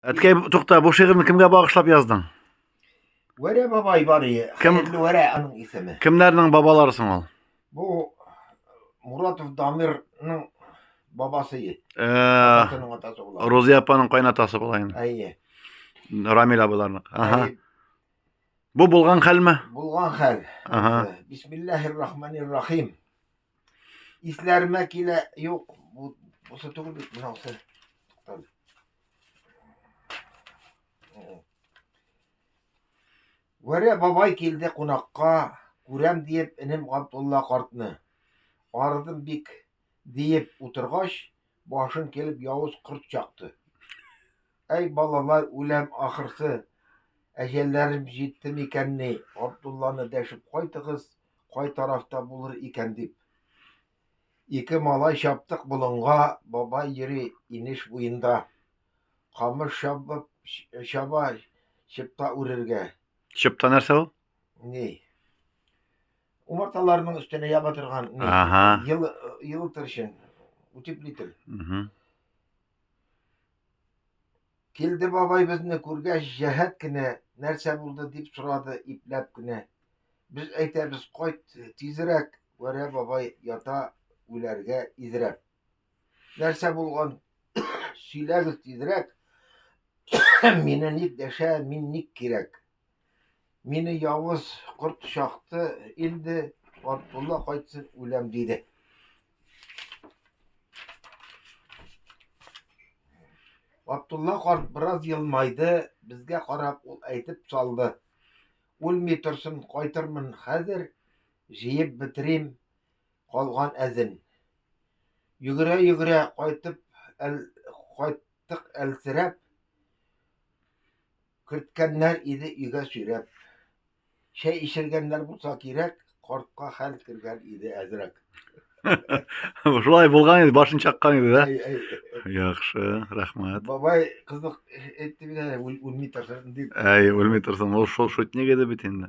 Әткәй, тукта, бу шигырьне кемгә багышлап яздың? Вәрә бабай бар ие. Кем? Хәерле Вәрә аның исеме. Кемнәрнең бабалары соң ул? Бу Муратов Дамирның бабасы ие. Э, Атасының атасы була. Рузия апаның кайнатасы була инде. Әйе. Рамил абыларның. Ага. Әйе, Бу булган хәлме? Булган хәл. Ага. Бисмиллаһир-рахманир-рахим. Исләремә килә, юк, бу бусы түгел бит, бунысы. Туктале. Вәрә бабай килде кунакка, күрәм диеп энем Габдулла картны. Арыдым бик диеп утыргач, башын килеп явыз корт чакты. Әй балалар, үләм ахырсы, әҗәлләрем җитте микәнни, Габдулланы дәшеп кайтыгыз, кай тарафта булыр икән дип. Ике малай чаптык болынга, бабай йөри инеш буенда. Камыш чабып, чаба, чыпта үрергә. Чыпта нәрсә ул? Ни? Умарталарның өстенә яба торган ни? Ага. Ел, елытыр өчен, утеплитель. Угу. Килде бабай безне күргәч, җәһәт кенә, нәрсә булды дип сорады, ипләп кенә. Без әйтәбез, кайт, тизрәк, Вәрә бабай ята үләргә изрәп. Нәрсә булган, сөйләгез тизрәк, мине ник дәшә, мин ник кирәк. Мине явыз корт чакты инде, Габдулла кайтсын үләм диде. Габдулла карт бераз елмайды, безгә карап ул әйтеп салды. Үлми торсын, кайтырмын хәзер, җыеп бетерим калган әзен. Йөгерә-йөгерә кайтып, әл, кайттык әлсерәп, Керткәннәр иде өйгә сөйрәп. Чәй эчергәннәр булса кирәк, картка хәл кергән иде әзрәк. Шулай булган иде, башын чаккан иде, да? Әй, әй, Яхшы, рәхмәт. Бабай кызык әйтте бит әле, үл- үлми торсын дип. Әй, үлми торсын, ул шул шутник иде бит инде.